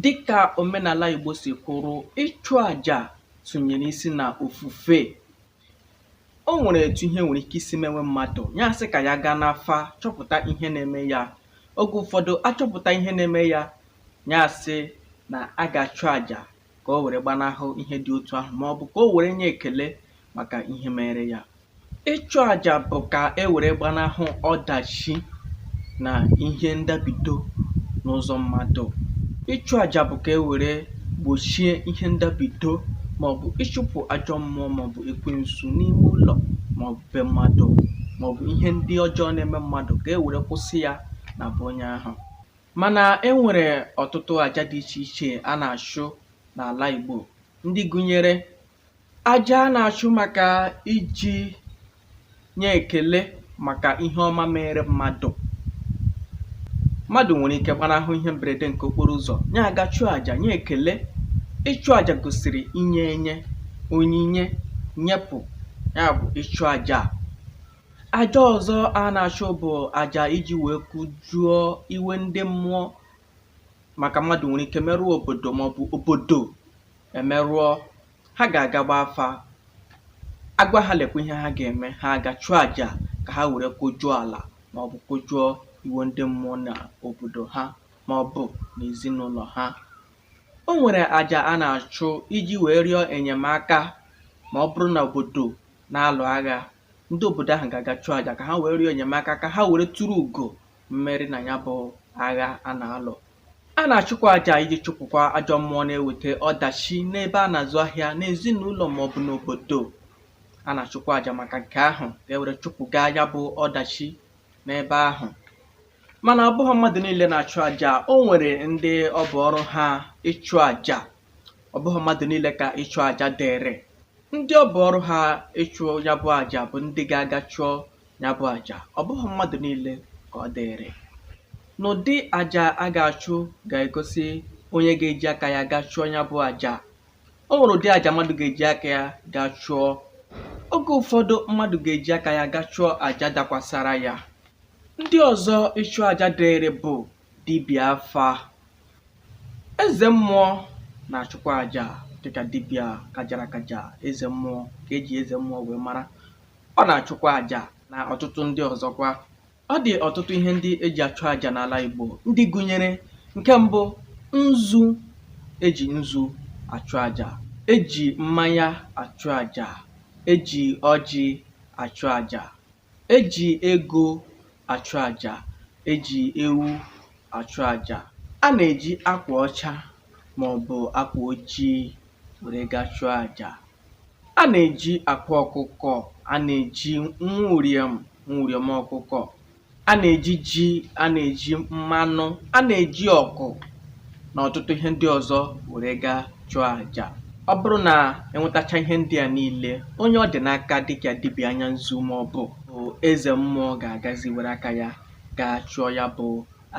Dịka omenala Igbo si kwụrụ, ịchụ aja sunyere isi na ofufe. O nwere etu ihe nwere ike isi mewe mmadụ, ya sị ka ya gaa n'afa chọpụta ihe na-eme ya. Oge ụfọdụ achọpụta ihe na-eme ya, ya sị na a ga-achụ aja ka o were gbanahụ ihe dị otu ahụ ma ọ bụ ka o were nye ekele maka ihe mere ya ịchụ àjà bụ ka e were gbanahụ ọdachi na ihe ndabido n'ụzọ mmadụ ịchụ àjà bụ ka e were gbochie ihe ndabido maọbụ ịchụpụ ajọ mmụọ maọbụ ekwensu n'ime ụlọ maọbụ be mmadụ maọbụ ihe ndị ọjọọ na-eme mmadụ ka e were kwụsị ya na be onye ahụ Mana e nwere ọtụtụ aja dị iche iche a na-achụ n'ala Igbo ndị gụnyere aja a na-achụ maka iji nye ekele maka ihe ọma mere mmadụ mmadụ nwere ike gbanahụ ihe mberede nke okporo ụzọ nya aga chụọ aja nye ekele ịchụ aja gosiri inye enye onyinye nyepụ ya bụ ịchụ aja Aja ọzọ a na-achụ bụ aja iji wee kụjụọ iwe ndị mmụọ maka mmadụ nwere ike merụọ obodo maọbụ obodo emerụọ ha ga-aga gbaa afa agwa ha lekwa ihe ha ga-eme ha aga chụọ aja ka ha were kụjụọ ala maọbụ kụjụọ iwe ndị mmụọ na obodo ha maọbụ na ezinụlọ ha o nwere aja a na-achụ iji wee rịọ enyemaka ma ọ bụrụ na obodo na-alụ agha ndị obodo ahụ ga-aga chụọ aja ka ha wee rịọ enyemaka ka ha were turu ugo mmeri na ya bụ agha a na-alụ a na-achụkwa aja iji chụpụkwa ajọ mmụọ na-eweta ọdachi n'ebe a na-azụ ahịa n'ezinụlọ ma ọ bụ n'obodo a na-achụkwa aja maka nke ahụ ka e were chụpụga ya bụ ọdachi n'ebe ahụ mana ọ bụghị mmadụ niile na-achụ aja o nwere ndị ọ bụ ọrụ ha ịchụ aja ọ bụghị mmadụ niile ka ịchụ aja dịịrị ndị ọ bụ ọrụ ha ịchụ ya bụ aja bụ ndị ga-aga chụọ ya bụ aja ọ bụghị mmadụ niile ka ọ dịịrị n'ụdị aja a ga-achụ ga-egosi onye ga-eji aka ya ga chụọ ya bụ aja o nwere ụdị aja mmadụ ga-eji aka ya ga chụọ oge ụfọdụ mmadụ ga-eji aka ya ga chụọ aja dakwasara ya ndị ọzọ ịchụ aja dịịrị bụ dibịa afa eze mmụọ na-achụkwa aja dịka dibịa kajara akaja eze mmụọ ka eji eze mmụọ wee mara ọ na-achụkwa aja na ọtụtụ ndị ọzọkwa ọ dị ọtụtụ ihe ndị eji achụ aja n'ala Igbo ndị gụnyere nke mbụ nzu eji nzu achụ aja eji mmanya achụ aja eji ọjị achụ aja E ji ego achụ aja, e ji ewu achụ aja. A na-eji akwa ọcha ma ọ bụ akwa ojii were ga chụọ aja. A na-eji akwa ọkụkọ, a na-eji nwa uriom, nwa uriom ọkụkọ. A na-eji ji, a na-eji mmanụ, a na-eji ọkụ na ọtụtụ ihe ndị ọzọ were ga chụọ aja ọ bụrụ na e nwetacha ihe ndị a niile onye ọ dị n'aka dịka dibịa anya nzu ma ọ bụ eze mmụọ ga-agazi were aka ya gaa chụọ ya bụ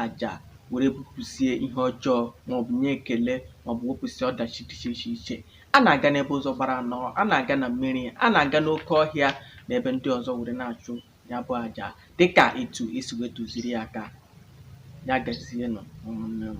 aja were bupụsie ihe ọjọọ maọbụ nye ekele maọbụ wepụsịa ọdachi dị iche iche a na-aga n'ebe ụzọ gbara anọ a na-aga na mmiri a na-aga n'oke ọhịa na ebe ndị ọzọ were na-achụ ya bụ aja dịka etu e si wee tụziri ya aka ya gazienụ ụmụnne m